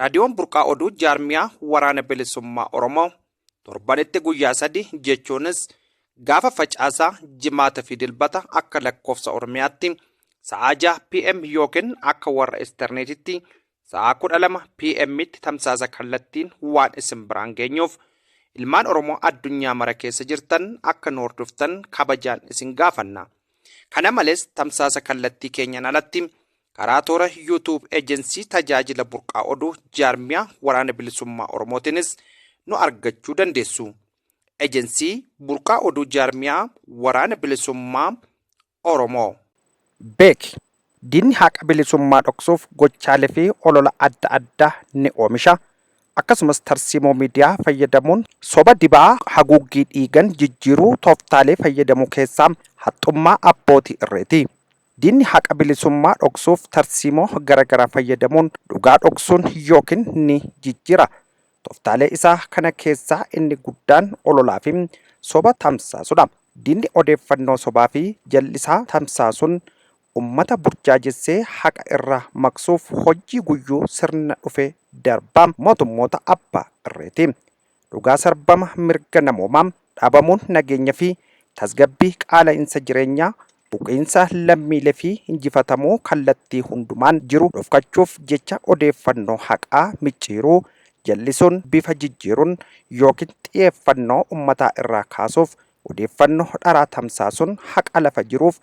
Raadiyoon Burqaa Oduu jaarmiyaa waraana bilisummaa Oromoo torbanitti guyyaa sadi jechuunis gaafa facaasaa jimaata fi dilbata akka lakkoofsa Oromiyaatti sa'aa 6 PM yookiin akka warra isterneetitti sa'aa 12 PMtti tamsaasa kallattiin waan isin biraan geenyuuf ilmaan Oromoo addunyaa mara keessa jirtan akka nu hordoftan kabajaan isin gaafanna. Kana malees tamsaasa kallattii keenyaan alatti Karaa toora YouTube Ejensii Tajaajila Burqaa Oduu Jaarmiyaa Waraana Bilisummaa Oromootiinis nu argachuu dandeessu. Ejensii Burqaa Oduu Jaarmiyaa Waraana Bilisummaa Oromoo. Beeki! Diinni haqa bilisummaa dhoksuuf gochaalee fi olola adda addaa ni oomisha. Akkasumas tarsiimoo miidiyaa fayyadamuun soba dibaa haguuggii dhiigan jijjiiruu tooftaalee fayyadamu keessaa haxxummaa abbootii irreeti. Diinni haqa bilisummaa dhoksuuf tarsiimoo garagaraa fayyadamuun dhugaa dhoksuun yookiin ni jijjiira. Toftaalee isaa kana keessaa inni guddaan ololaa fi soba tamsaasudha. Diinni odeeffannoo sobaa fi jal'isaa tamsaasuun ummata burjaajessee haqa irraa maqsuuf hojjii guyyuu sirna dhufe darbaa mootummoota abbaa irreeti. dhugaa sarbama mirga namoomaa, dhabamuun nageenya fi tasgabbii, qaala'insa jireenyaa, buqiinsa lammiilee fi injifatamuu kallattii hundumaan jiru dhofkachuuf jecha odeeffannoo haqaa micciiruu, jallisuun, bifa jijjiiruun ykn xiyeeffannoo ummataa irraa kaasuuf odeeffannoo dharaa tamsaasuun haqa lafa jiruuf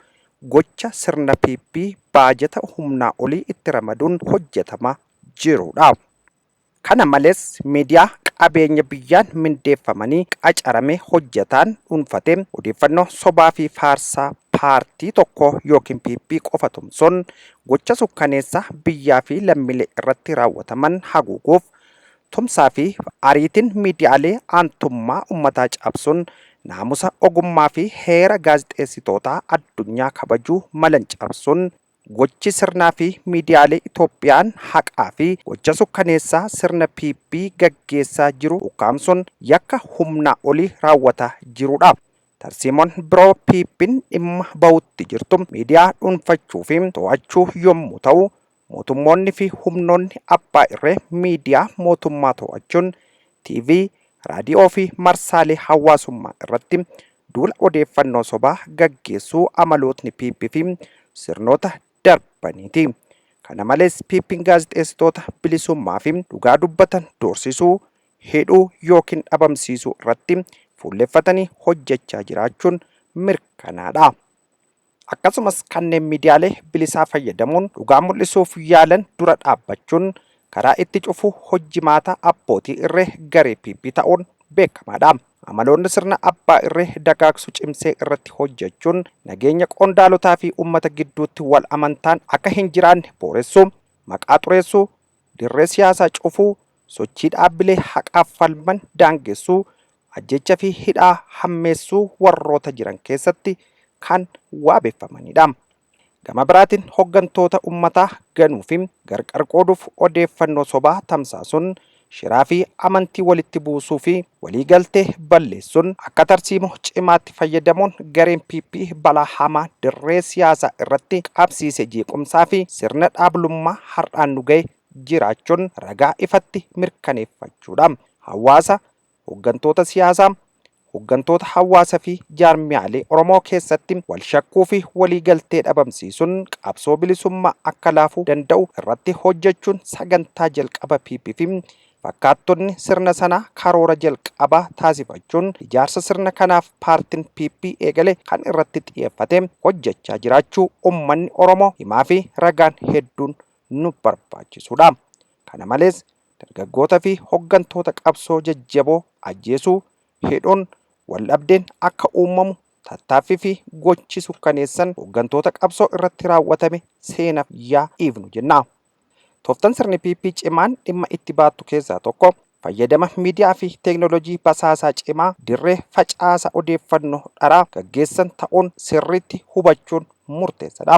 gocha sirna PP baajata humnaa olii itti ramaduun hojjatama jiru dha. Kana malees miidiyaa qabeenya biyyaan mindeeffamanii qacarame hojjetaan dhuunfate odeeffannoo sobaa fi faarsaa paartii tokkoo ykn PP qofa tumsuun gocha sukkaneessaa biyyaa fi lammiilee irratti raawwataman haguuguuf tumsaa fi ariitiin miidiyaalee aantummaa ummataa caabsuun naamusa ogummaa fi heera gaazexeessitootaa addunyaa kabajuu malan cabsuun Gochi sirnaa fi miidiyaalee Itoophiyaan haqaa fi gocha sukkaneessaa sirna PP gaggeessaa jiru ukkaamsuun yakka humnaa olii raawwataa jirudha. Tarsiimoon biroo PPn dhimma bahutti jirtu miidiyaa dhuunfachuu fi to'achuu yommuu ta'u, mootummoonni fi humnoonni abbaa irree miidiyaa mootummaa to'achuun TV, Raadiyoo fi marsaalee hawaasummaa irratti duula odeeffannoo sobaa gaggeessuu amalootni PP fi sirnoota darbaniiti. Kana malees PPn gaazexeessitoota bilisummaa fi dhugaa dubbatan doorsisuu, hidhuu yookiin dhabamsiisuu irratti fuulleffatanii hojjechaa jiraachuun mirkanaadha. akkasumas kanneen miidiyaalee bilisaa fayyadamuun dhugaa mul'isuuf yaalan dura dhaabbachuun karaa itti cufuu hojjimaata abbootii irree garee PP ta'uun beekamaadha. Amaloonni sirna abbaa irree dagaagsu cimsee irratti hojjechuun nageenya qondaalotaa fi uummata gidduutti wal amantaan akka hin jiraanne booressuu, maqaa xureessuu, dirree siyaasaa cufuu, sochii dhaabbilee haqaaf falman daangessuu, ajjeecha fi hidhaa hammeessuu warroota jiran keessatti kan waabeffamanidha. Gama biraatiin hoggantoota ummataa ganuu fi gargar qooduuf odeeffannoo sobaa tamsaasuun shiraa fi amantii walitti buusuu fi walii galtee balleessuun akka tarsiimo cimaatti fayyadamuun gareen PP balaa hamaa dirree siyaasaa irratti qabsiise jeequmsaa fi sirna dhaablummaa har'aan nu gahe jiraachuun ragaa ifatti mirkaneeffachuudha. Hawaasa hoggantoota siyaasaa, hoggantoota hawaasa fi jaarmiyaalee Oromoo keessatti wal shakkuu fi walii galtee dhabamsiisuun qabsoo bilisummaa akka laafu danda'u irratti hojjechuun sagantaa jalqaba PP fi fakkaattonni sirna sanaa karoora jalqabaa taasifachuun ijaarsa sirna kanaaf paartin PP eegale kan irratti xiyyeeffate hojjechaa jiraachuu ummanni Oromoo himaa fi ragaan hedduun nu barbaachisuudha. Kana malees, dargaggoota fi hoggantoota qabsoo jajjaboo ajjeesuu, hidhuun, waldhabdeen akka uummamu tattaaffii fi gochi sukkaneessan hoggantoota qabsoo irratti raawwatame seenaf yaa dhiifnu jenna. Tooftan sirni PP cimaan dhimma itti baattu keessaa tokko fayyadama miidiyaa fi teeknolojii basaasaa cimaa dirree facaasa odeeffannoo dharaa gaggeessan ta'uun sirriitti hubachuun murteessadha.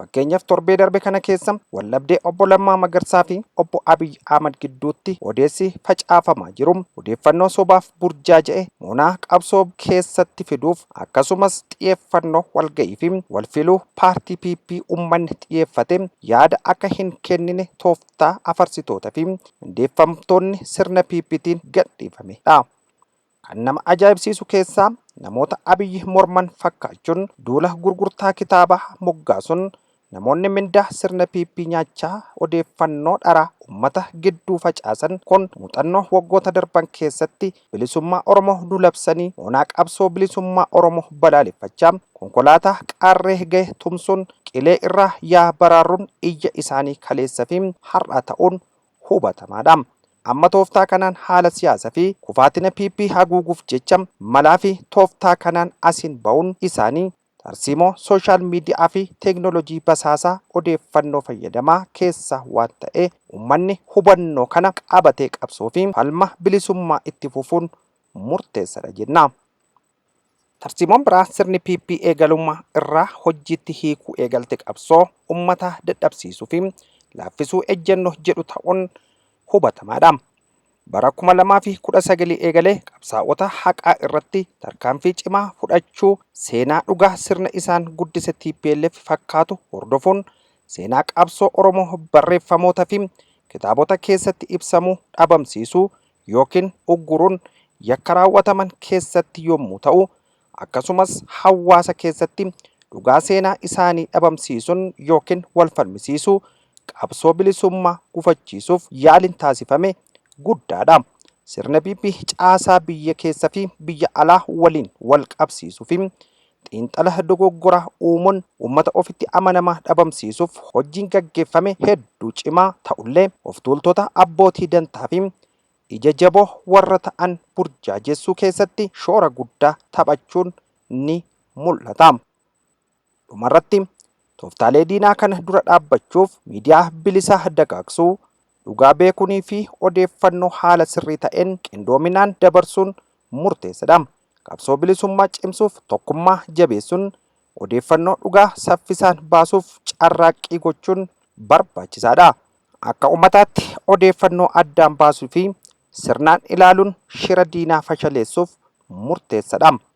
Fakkeenyaaf torbee darbe kana keessa waldhabdee obbo Lammaa Magarsaa fi obbo Abiy Ahmad gidduutti odeessi facaafamaa jiru odeeffannoo sobaaf burjaaja'e moonaa qabsoo keessatti fiduuf akkasumas xiyeeffannoo walga'ii fi walfiluu paartii PP ummanni xiyeeffate yaada akka hin kennine tooftaa afarsitoota fi mindeeffamtoonni sirna PPtiin gadhiifame dha. Kan nama ajaa'ibsiisu keessaa namoota Abiy morman fakkaachuun duula gurgurtaa kitaabaa moggaasuun namoonni mindaa sirna PP nyaachaa odeeffannoo dharaa ummata gidduu facaasan kun muuxannoo waggoota darban keessatti bilisummaa Oromoo nu labsanii moonaa qabsoo bilisummaa Oromoo balaaleffachaa konkolaataa qaarree gahe tumsuun qilee irraa yaa baraarruun iyya isaanii kaleessa fi har'aa ta'uun hubatamaa dha. Amma tooftaa kanaan haala siyaasa fi kufaatina PP haguuguuf jecha malaa fi tooftaa kanaan asiin ba'uun isaanii tarsiimoo social media fi teeknolojii basaasaa odeeffannoo fayyadamaa keessa waan ta'ee ummanni hubannoo kana qabatee qabsoo fi falma bilisummaa itti fufuun murteessadha jenna. Tarsiimoon biraa sirni PP eegalummaa irraa hojjiitti hiikuu eegalte qabsoo ummataa dadhabsiisuu fi laaffisuu ejjennoo jedhu ta'uun hubatamaadha. Bara 2019 eegalee qabsaa'ota haqaa irratti tarkaanfii cimaa fudhachuu seenaa dhugaa sirna isaan guddise tplf fakkaatu hordofuun seenaa qabsoo Oromoo barreeffamoota fi kitaabota keessatti ibsamuu dhabamsiisuu yookiin ugguruun yakka raawwataman keessatti yommuu ta'u, akkasumas hawaasa keessatti dhugaa seenaa isaanii dhabamsiisuun yookiin wal falmisiisuu qabsoo bilisummaa gufachiisuuf yaaliin taasifame guddaa dha. Sirna PP caasaa biyya keessa fi biyya alaa waliin wal qabsiisuu fi Xiinxala dogoggoraa uumuun uummata ofitti amanamaa dhabamsiisuuf hojjiin gaggeeffame hedduu cimaa ta'ullee oftuultota abbootii dantaafi ija jaboo warra ta'an burjaajeessuu keessatti shoora guddaa taphachuun ni mul'ata. Dhumarratti, tooftaalee diinaa kana dura dhaabbachuuf miidiyaa bilisaa dagaagsuu, dhugaa beekuunii fi odeeffannoo haala sirrii ta'een qindoominaan dabarsuun murteessadha. Qabsoo bilisummaa cimsuuf tokkummaa jabeessuun odeeffannoo dhugaa saffisaan baasuuf carraaqqii gochuun barbaachisaadha. Akka ummataatti odeeffannoo addaan baasuu fi sirnaan ilaaluun shira diinaa fashaleessuuf murteessadha.